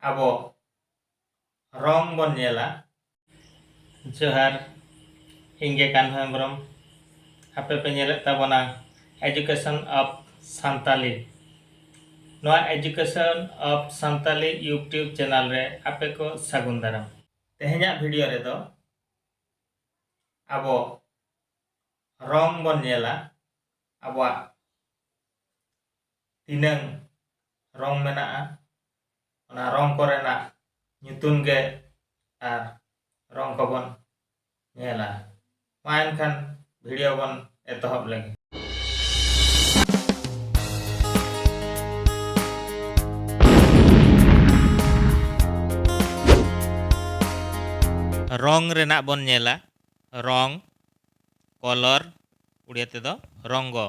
ᱟᱵᱚ ᱨᱚᱝ ᱵᱚᱱ ᱧᱮᱞᱟ ᱡᱚᱦᱟᱨ ᱤᱧ ᱜᱮ ᱠᱟᱱᱦᱚ ᱦᱮᱢᱵᱨᱚᱢ ᱟᱯᱮ ᱯᱮ ᱧᱮᱞᱮᱫ ᱛᱟᱵᱚᱱᱟ ᱮᱡᱩᱠᱮᱥᱚᱱ ᱚᱯᱷ ᱥᱟᱱᱛᱟᱞᱤ ᱱᱚᱣᱟ education of Santali YouTube channel ᱨᱮ ᱟᱯᱮ ᱠᱚ ᱥᱟᱹᱜᱩᱱ ᱫᱟᱨᱟᱢ ᱛᱮᱦᱮᱧᱟᱜ ᱵᱷᱤᱰᱤᱭᱳ ᱨᱮᱫᱚ ᱟᱵᱚ ᱨᱚᱝ ᱵᱚᱱ ᱧᱮᱞᱟ ᱟᱵᱚᱣᱟᱜ ᱛᱤᱱᱟᱹᱝ ᱨᱚᱝ ᱢᱮᱱᱟᱜᱼᱟ ᱚᱱᱟ ᱨᱚᱝ ᱠᱚᱨᱮᱱᱟᱜ ᱧᱩᱛᱩᱢ ᱜᱮ ᱟᱨ ᱨᱚᱝ ᱠᱚᱵᱚᱱ ᱧᱮᱞᱟ ᱢᱟ ᱮᱱᱠᱷᱟᱱ ᱵᱷᱤᱰᱤᱭᱳ ᱵᱚᱱ ᱮᱛᱚᱦᱚᱵ ᱞᱮᱜᱮ ᱨᱚᱝ ᱨᱮᱱᱟᱜ ᱵᱚᱱ ᱧᱮᱞᱟ ᱨᱚᱝ ᱠᱚᱞᱚᱨ ᱩᱲᱤᱭᱟ ᱛᱮᱫᱚ ᱨᱚᱝᱜᱚ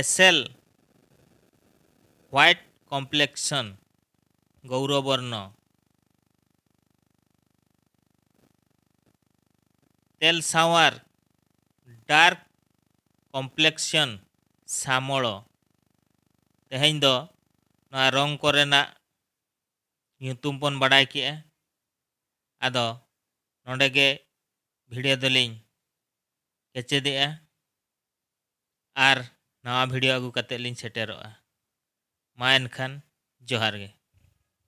ᱮᱥᱮᱞ ᱦᱣᱟᱭᱤᱴ ᱠᱚᱢᱯᱞᱮᱠᱥᱚᱱ, ᱜᱚᱣᱨᱚ ᱵᱚᱨᱱᱚ, ᱛᱮᱞ ᱥᱟᱶᱟᱨ, ᱰᱟᱨᱠ ᱠᱚᱢᱯᱞᱮᱠᱥᱚᱱ, ᱥᱟᱢᱚᱲᱚ᱾ ᱛᱮᱦᱮᱧ ᱫᱚ ᱱᱚᱣᱟ ᱨᱚᱝ ᱠᱚᱨᱮᱱᱟᱜ ᱧᱩᱛᱩᱢ ᱵᱚᱱ ᱵᱟᱰᱟᱭ ᱠᱮᱜᱼᱟ᱾ ᱟᱫᱚ ᱱᱚᱰᱮ ᱜᱮ ᱵᱷᱤᱰᱤᱭᱳ ᱫᱚᱞᱤᱧ ᱠᱮᱪᱮᱫᱮᱜᱼᱟ᱾ ᱟᱨ ᱱᱟᱣᱟ ᱵᱷᱤᱰᱤᱭᱳ ᱟᱹᱜᱩ ᱠᱟᱛᱮᱫ ᱞᱤᱧ ᱥᱮᱴᱮᱨᱚᱜᱼᱟ ᱢᱟ ᱮᱱᱠᱷᱟᱱ ᱡᱚᱦᱟᱨ ᱜᱮ